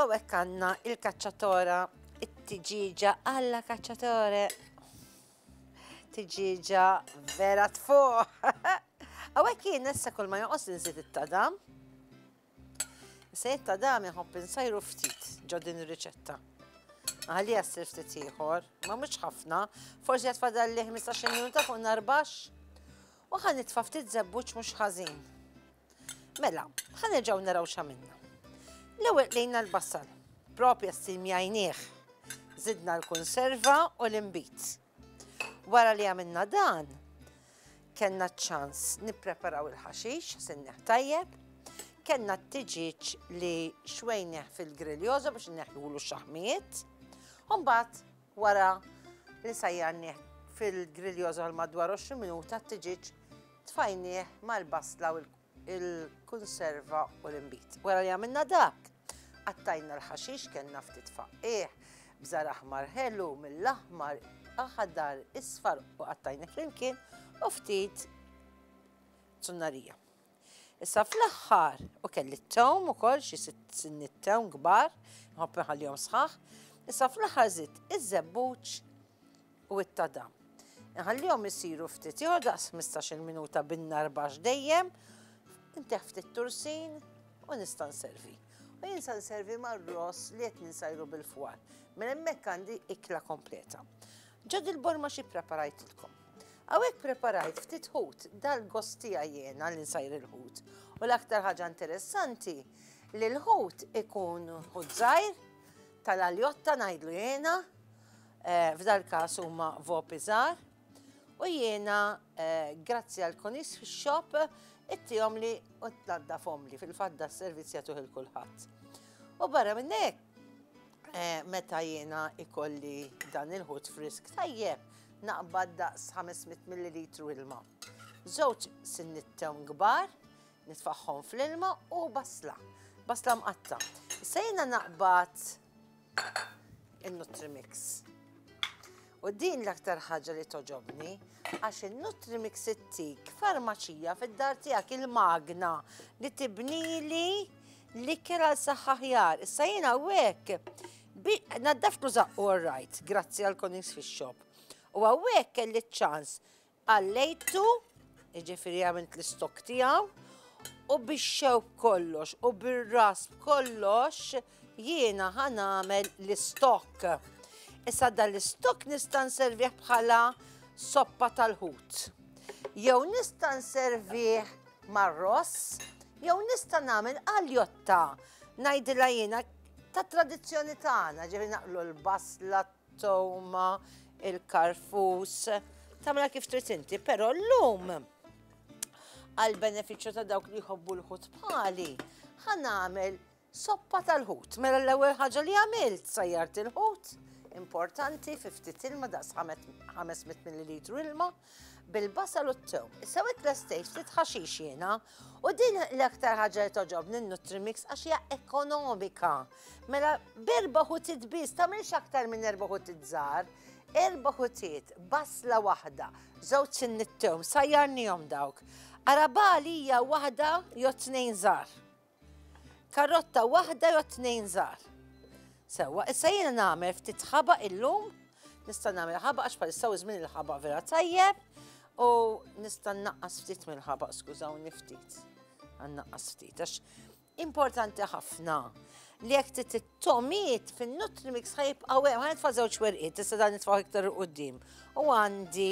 U hekk għandna il-kaċċatora, it-tiġiġa għalla kaċċatore. Tiġiġa vera tfuq. U hekk jien issa kull ma joqos nżid it-tadam. Se it-tadam jħobb insajru ftit ġo din ir-riċetta. Għalli jassir ftit ieħor, ma mhux ħafna, forsi qed fadal li 15 minuta fuq narbax. U ħa nitfa' ftit żebbuġ mhux ħażin. Mela, ħa nerġgħu naraw x'għamilna. L-ewwel qlejna l-basal, propja stil mjajnieh. Zidna l-konserva u l-imbit. Wara li għamilna dan, kellna ċ-ċans nippreparaw il-ħaxix, sinneħ tajjeb, kellna t-tiġiġ li xwejneħ fil-griljoza biex neħjulu xaħmiet, un-bat Wara li sajjarnieh fil-griglios għal madwar 20 minuta t-tiġieġ tfajnieh mal-basla u l-kunserva u l-inbid. Wara li għamilna dak, qattajna l-ħaxix kellna ftit faqqigħ b'żgħar aħmar ħelu mill-aħmar, aħdar, isfar u qattajnih flimkien u ftit zunnarija. Issa fl-aħħar, u kelli t-tewm ukoll xi sitt sinni t-tewm kbar, nħobb inħallihom sħaħ. Issa fl-aħħar żitt iż-żebbuġ u t-tadam. Inħallihom isiru ftit ieħor daqs 15-il minuta bin-nar baxx dejjem, inteħħ ftit tursin u nista' nservi. U jien se nservi mar-ross li qed ninsajru bil-fwar. Minn hemmhekk għandi ikla kompleta. Ġod il-borma xi preparajtilkom. Hawnhekk preparajt ftit ħut dal-gost tiegħi jiena li nsajr il-ħut. U l-aktar ħaġa interessanti li l-ħut ikun ħut żgħir tal-aljotta ngħidlu jiena, eh, f'dal-każ huma vopi żgħar. U jiena eh, grazzi għal konis fix-shop ittihom li u tnaddafhom li fil-fadda s-servizz jagħtuh il-kulħadd. U barra minnek, Meta jiena ikolli dan il-ħut frisk tajjeb, naqbad daqs 500 millilitru ilma. Żewġ sinnit tewn kbar, nitfaħħom fl-ilma u basla. Basla mqatta. Issa jiena naqbad il-Nutrimix. U din l-aktar ħaġa li toġobni, għax il-Nutrimix ittik farmaċija fid-dar tiegħek il-magna li tibnili L-ikel għal saħħa ħjar, issa jiena hawnhekk. Naddaft u zaqqu rajt, grazzi għal konings fix-xop. U hawnhekk kelli ċ-ċans għallejtu, jiġifieri għamilt l-istok tiegħu, u bix-xew kollox u bir-ras kollox jiena ħanamel l-istok. Issa dan l-istok nista' nservih bħala soppa tal-ħut. Jew nista' nservih Mar-ross, jew nista' nagħmel għaljotta ngħidilha jiena tat-tradizzjoni tagħna, ġifieri naqlu l-basla, t-togħma, il-karfus, tagħmilha kif trid inti, però llum għall-benefiċċju ta' dawk li jħobbu l-ħut bħali, ħa nagħmel Soppa tal-ħut, mela l-ewwel ħaġa li għamilt sajjart il-ħut, importanti fi ftit ilma daqs 500 millilitru ilma bil-basal u t-tew. Issa wet l-estejt ftit ħaxix jiena u din l-aktar ħaġa li toġobni n-Nutrimix għax hija ekonomika. Mela berba ħutit biss tagħmilx aktar minn erba' ħutit żgħar, erba' ħutiet, basla waħda, żewġ sinnittew, sajjarnihom dawk. Arabali hija waħda jew tnejn żgħar. Karrotta waħda jew tnejn żgħar. Sewwa, issa jiena nagħmel ftit ħaba illum, nista' nagħmel ħaba għax bħalissa żmien il-ħaba vera tajjeb u nista' naqqas ftit mill-ħaba, skużawni ftit. Għannaqqas ftit għax importanti ħafna li jek t-tomiet fin-nutri mix ħajib għawem, ħajt fa' zewċ werqiet, tista' dan nitfaw iktar u qoddim. U għandi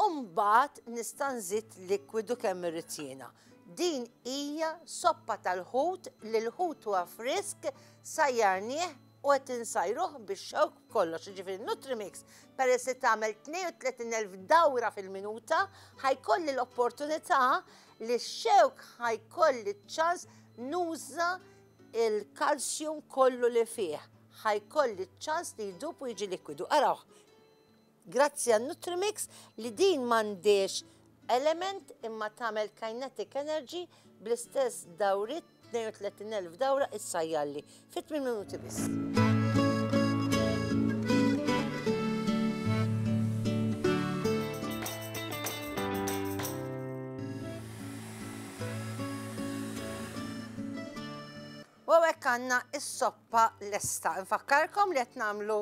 U mbagħad nista' nżid likwidu kemm irrid jiena. Din hija soppa tal-ħut li l-ħut huwa frisk, sajjarnieh u qed insajruh bix-xewk b'kollox, jiġifieri Nutrimix peress li tagħmel 32,000 dawra fil-minuta, ħa jkolli l-opportunità li x-xewk ħa jkolli ċ-ċans nuża l-kalsjum kollu li fih, ħa jkolli ċ-ċans li jdub u jiġi likwidu. Arawh. Grazzi għal Nutrimix li din m'għandhiex element imma tagħmel kinetic energy bl-istess dawriet 32,000 dawra issa jgħalli fi 8 minuti biss. għanna is-soppa lesta. Nfakkarkom li qed nagħmlu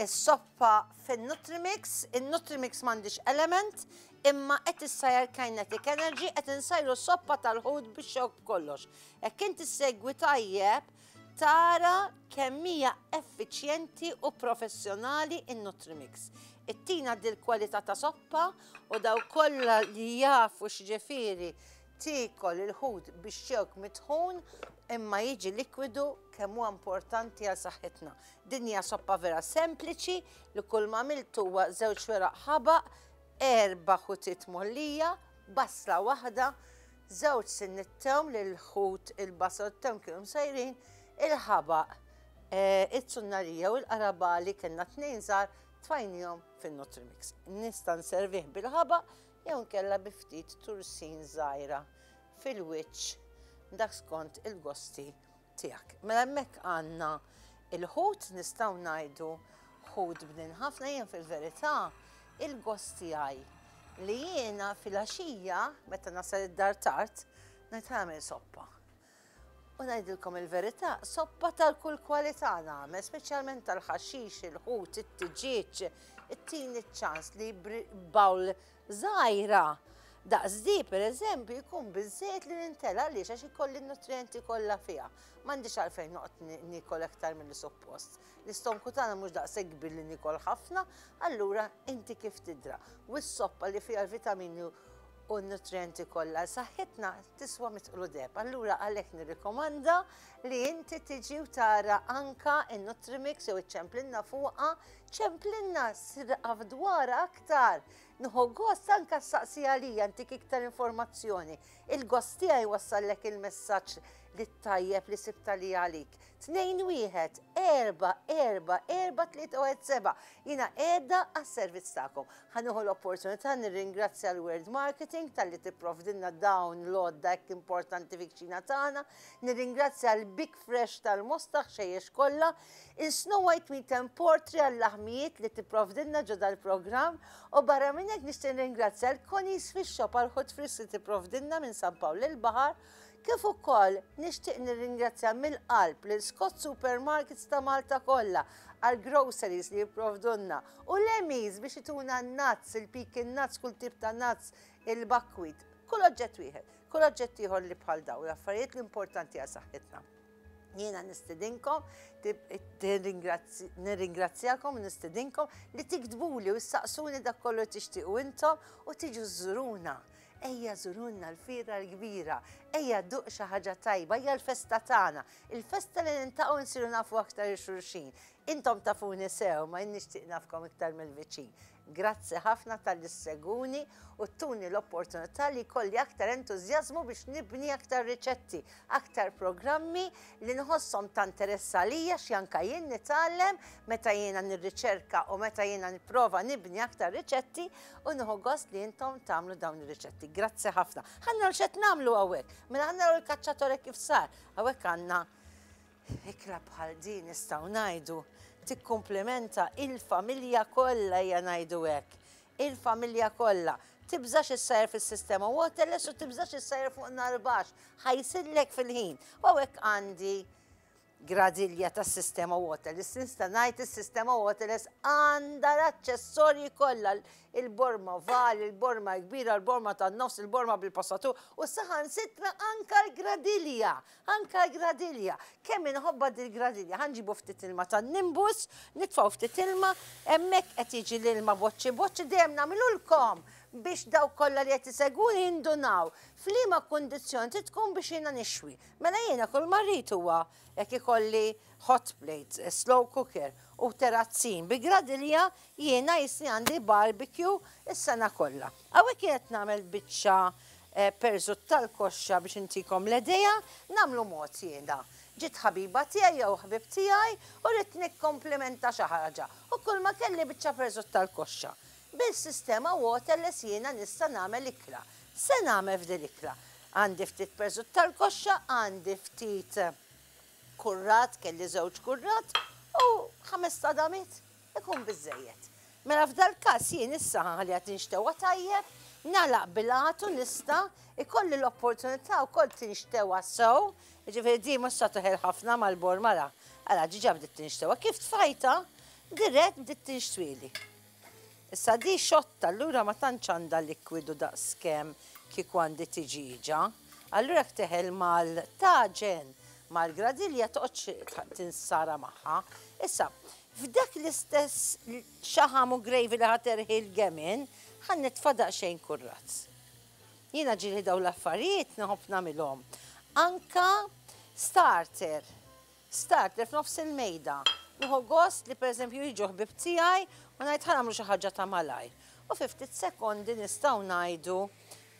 Is-soppa fin-Nutrimix, in-Nutrimix m'għandhiex element, imma qed issajjar kinetic energy, qed insajru soppa tal-ħut bix-xewk b'kollox. Hekk int issegwi tajjeb tara kemm hija effiċjenti u professjonali n-Nutrimix. Ittina dil-kwalità ta' soppa u dawk kollha li jafu x'ġifieri tiekol il-ħut bix-xewk mitħun imma jiġi likwidu kemm huwa importanti għal saħħitna. Din hija soppa vera sempliċi li kull ma għamiltu huwa żewġ weraq ħabaq, erba' ħutiet mollija, basla waħda, żewġ sinniet tewm li l-ħut, il-basal u t-tewm kienu msajrin, il-ħabaq, iz-zunnarija u l-qarabagħli kellna tnejn żgħar tfajnihom fin-Nutrimix. Nista' nservih bil-ħabaq jew inkella bi ftit tursin żgħira fil-wiċċ dak skont il-gosti tiegħek. Mela hemmhekk għandna il-ħut nistgħu ngħidu ħut bnin ħafna jien fil-verità il-gost tiegħi li jiena fil-għaxija meta nasal id-dar tard ngħid għamel soppa. U ngħidilkom il-verità, soppa tal-kull kwalità nagħmel, speċjalment tal-ħaxix, il-ħut, it-tiġieġ, it-tin iċ-ċans li bawl żgħira, daqs di pereżempju jkun biżżejjed li nintela' għaliex għax ikolli n-nutrijenti kollha fiha. M'għandix għalfejn noqgħod niekol aktar milli suppost. L-istonku tagħna mhux daqshekk kbir li niekol ħafna, allura inti kif tidra. U s-soppa li fiha l-vitamini u n-nutrijenti kollha għal saħħitna tiswa mitqlu deheb. Allura għalhekk nirrikomanda li inti tiġi u tara anka n-Nutrimix jew iċċemplinna fuqha Ċemplilna srqa f'dwara aktar. Nħu gost anka saqsi għalija ntik iktar informazzjoni. Il-gost tiegħi wassallek il-messaġġ li tajjeb li sibta li għalik. 2-1-4-4-4-3-1-7 Jina edda għas-servizz tagħkom. Ħanuħu l-opportunità nirringrazzja l-World Marketing tal-li tipprovdinna dawn l-odda hekk importanti fikċina tagħna. Nirringrazzja l-Big Fresh tal-Mostaħ xejjex kollha Il-Snow White Meat and Portri għal-laħmijiet li tipprovdilna ġo dal-programm u barra minn hekk nixtieq nringrazzja l Connie's Fish Shop għall-ħut frisk li tipprovdilna minn San Pawl il-Baħar kif ukoll nixtieq nirringrazzja mill-qalb lil Scott Supermarkets ta' Malta kollha għall-groceries li jipprovdulna u l-Emmy's biex ituna n-nuts, il-pecan nuts, kull tip ta' nuts, il-buckwheat, kull oġġett wieħed, kull oġġett ieħor li bħal dawn l-affarijiet l-importanti għal saħħitna. Jiena nistidinkom, nirringrazzjakom, nistidinkom li tiktbuli u ssaqsuni dak kollu tixtiequ intom u tiġu żuruna. Ejja żurunna l-fira l-kbira, ejja duq xi ħaġa tajba, ejja l-festa tagħna, il-festa li nintaqgħu nsiru nafu aktar il-xulxin. Intom tafuni sew, ma jien nixtieq nafkom iktar mill-viċin. Grazzi ħafna talli ssegwuni u ttuni l-opportunità li jkolli aktar entużjażmu biex nibni aktar riċetti, aktar programmi li nħosshom ta' interess għalija xi anka jien nitgħallem meta jiena nirriċerka u meta jiena nipprova nibni aktar riċetti u nieħu gost li intom tagħmlu dawn ir-riċetti. Grazzi ħafna. Ħa naraw x'qed nagħmlu hawnhekk. Mela ħa naraw il-kaċċatore kif sar. Hawnhekk għandna Ikla bħal din nistgħu ngħidu tikkumplimenta il-familja kollha ejja ngħidu hekk. Il-familja kollha. Tibżax issajr fis-sistema waterless u tibżax issajr fuq nar baxx. Ħajsillek fil-ħin. U hawnhekk għandi gradilja tas-sistema waterless. Nista' ngħid is-sistema waterless għandha l-aċċessorji kollha il-borma val, il-borma kbira, il-borma tan-nofs, il-borma bil-passatur u saħansitra anka l-gradilja. Anke l-gradilja. Kemm inħobbha dil-gradilja. Ħa nġibu ftit ilma tan-nimbus, nitfgħu ftit ilma, hemmhekk qed jiġi l-ilma boċċi boċċi, dejjem nagħmilulkom biex dawk kollha li qed isegwuni jindunaw f'liema kundizzjoni trid tkun biex jiena nixwi. Mela jiena kull ma rrid huwa jekk ikolli hot plate, slow cooker u terazzin bi gradilja jiena jisni għandi barbecue is-sena kollha. Hawnhekk jien qed nagħmel biċċa perżut tal-koxxa biex intikom l-idea, nagħmlu mod jiena. Ġiet ħabiba tiegħi jew ħbieb tiegħi u rrid nikkomplimenta xi ħaġa u kulma kelli biċċa perżut tal-koxxa. Bil-sistema waterless jiena nista' nagħmel ikla. Se nagħmel f'din l-ikla? Għandi ftit perżut tal-koxxa, għandi ftit kurrat, kelli żewġ kurrat u ħames tadamiet. Ikun biżżejjed. Mela f'dal-każ jien issa ħanħalliha tinxtewwa tajjeb, nagħlaq bil-għad u nista' jkolli l-opportunità wkoll tinxtewwa sew, jiġifieri din mhux se toħel ħafna mal-bogħor mara, ara diġà bdiet tinxtewwa, kif tfajtha dirett bdiet tinxtwieli. Issa di xotta allura ma tantx għandha likwidu daqskemm kieku għandi tiġieġa, allura jekk teħel mal-taġen, mal-gradilja toqgħodx tinsara magħha. Issa, F'dak l-istess xaħam u gravy li ħa terħi l-gemin, ħa nitfa' daqsxejn kurraz. Jiena ġieli dawn l-affarijiet nħobb nagħmilhom. Anke starter, starter f'nofs il-mejda. Nieħu gost li pereżempju jiġu ħbieb tiegħi u ngħid ħa nagħmlu xi ħaġa ta' malajr. U fi ftit sekondi nistgħu ngħidu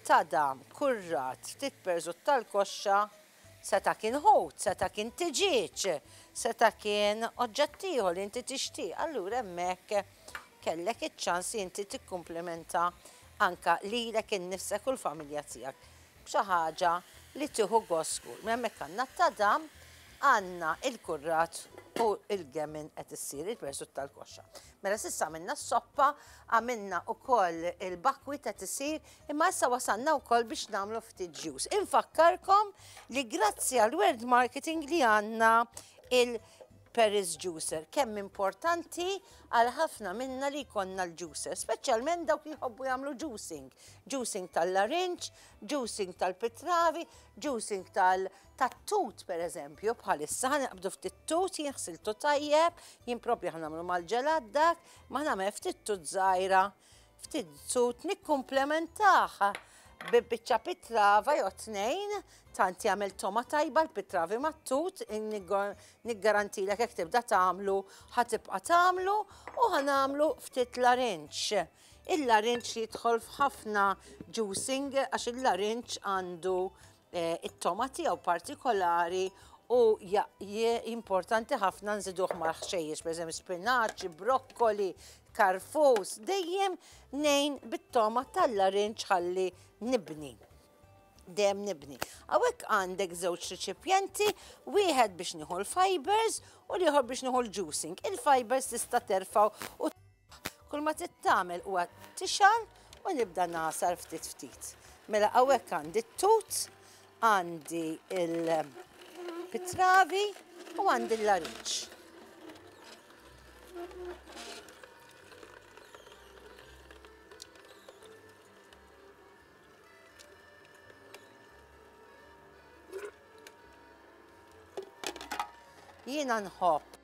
tadam, kurrat, ftit perżut tal-koxxa, Seta' kien ħut, seta' kien tiġieġ, seta' kien oġġett ieħor li inti tixtieq, allura hemmhekk kellek iċ-ċans li inti tikkumplimenta anke lilek innifsek u l-familja tiegħek b'xi ħaġa li tieħu gost żgur. Mela hemmhekk għandna t-tadam, għandna l-kurrat u l-gemmen qed issir, il-persut tal-koxxa. Mela s'issa għamilna s-soppa, għamilna wkoll il-bakwit qed isir, Imma issa wasalna wkoll biex nagħmlu ftit ġus. Infakkarkom li grazzi għal word marketing li għandna il-Paris Juicer, kemm importanti għal ħafna minna li jkollna l-juicer, speċjalment dawk li jħobbu jagħmlu juicing. Juicing tal-larinċ, juicing tal-pitravi, juicing tal-tut per eżempju, bħalissa ħanqabdu ftit tut, jinħsiltu tajjeb, jien propju ħanamlu mal-ġelat dak, ma ħnamel ftit tut żgħira Ftit zut nikkumplementah bi biċċa pitrava jew tnejn, tant jagħmel toma tajba l-pitravi mat-tut, niggarantilek jekk tibda tagħmlu ħatibqa' tagħmlu u ħanamlu ftit larinġ. Il-larinġ jidħol f'ħafna juicing għax il-larinġ għandu it-tomati jew partikolari u importanti ħafna nżiduh mal-ħxejjex, pereżempju spinaċ, brokkoli, karfus, dejjem nejn bit-toma tal-larinġ ħalli nibni. Dejjem nibni. Hawnhekk għandek żewġ riċipjenti, wieħed biex nieħu l-fibers u l-ieħor biex nieħu l-juicing. Il-fibers tista' terfgħu u Kull ma trid tagħmel huwa tixgħal u nibda nagħsar ftit ftit. Mela hawnhekk għandi t-tut, għandi il-pitravi u għandi l-lariċ. Jiena nħobb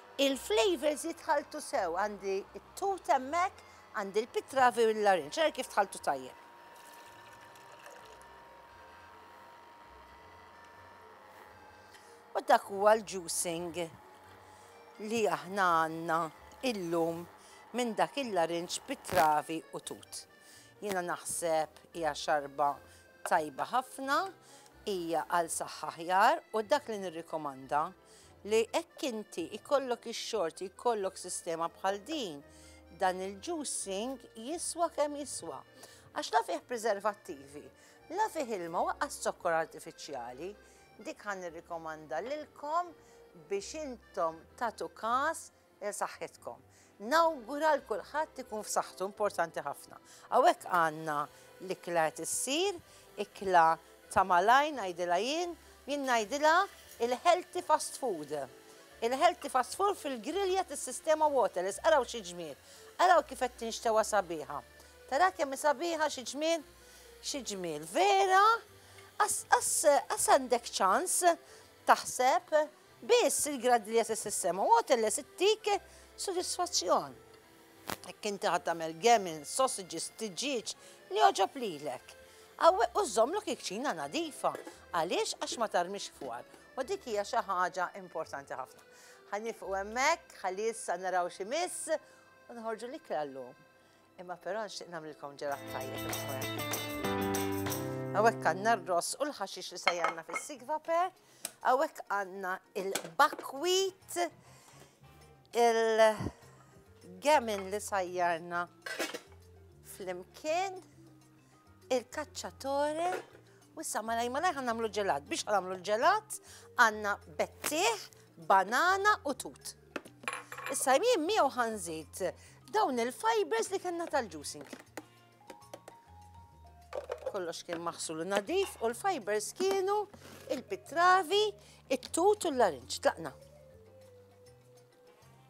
Il-flavours jitħalltu sew, għandi t-tut hemmhekk, għandi l-pitravi u l-larinġ, ara kif tħalltu tajjeb. U dak huwa l-juicing li aħna għandna illum minn dak il-larinġ pitravi u tut. Jiena naħseb hija xarba Tajba ħafna, hija għal saħħa aħjar u dak li nirrikomanda li hekk inti jkollok ix-xorti jkollok sistema bħal din dan il-juicing jiswa kemm jiswa. Għax la fih preservattivi, la fih ilma waqqas zokkor artifiċjali, dik ħan nirrikomanda lilkom biex intom tatu kas Għal saħħitkom. Nawgura għal kulħadd ikun f'saħħtu, importanti ħafna. Hawnhekk għandna l-ikla qed issir, ikla ta' malajr ngħidilha jien, jien ngħidilha il-healthy fast food. Il-healthy fast food fil-grilja tas-sistema Waterless, araw xi ġmiel. Araw kif qed tinxtewa sabiħa. Tara kemm hi sabiħa xi ġmiel? Xi ġmiel vera? Qas għandek ċans taħseb Biss il-grad li jeses is-sema u għoteles ittik sodisfazzjon. Jekk inti ħad tagħmel gemin, sausages, tiġieġ li joġob lilek. Għawweq u żommlok il-kċina nadifa. Għaliex għax ma tarmix fwar. U dik hija xi ħaġa importanti ħafna. Ħanifqu hemmhekk, ħalli issa naraw xi miss u nħorġu l-ikla llum. Imma però nixtieq nagħmlilkom ġelat tajjeb il-ħwem. Hawnhekk għandna r-ross u l-ħaxix li se jgħandna fis-sigva per, hawnhekk għandna il-bakwit, il-gemin li sajjarna fl-imkien, il-kaċċatore u issa malaj malaj ħan nagħmlu ġelat. Biex ħan nagħmlu l-ġelat għandna bettieħ, banana u tut. Issa jien miegħu ħanżid dawn il-fibers li kellna tal-juicing. Kollox kien maħsul nadif u l-fibers kienu il-pitravi, it-tut u l-larinċ. Tlaqna.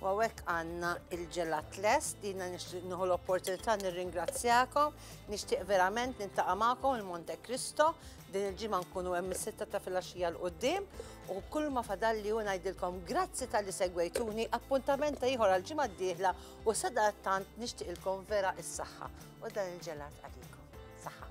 U għawek għanna il-ġelat lest, dina nixtieq nħu l-opportunità nirringrazzjakom, nixtieq verament nintaqa' magħkom il-Monte Cristo, din il-ġimgħa nkunu hemm is-sitta ta' filgħaxija l qudiem u kull ma fadalli u ngħidilkom grazzi tal-li segwejtuni appuntamenta ieħor għal ġimgħa d-dieħla u sadattant nixtieqilkom vera is-saħħa u dan il-ġelat għalikom. Saħħa.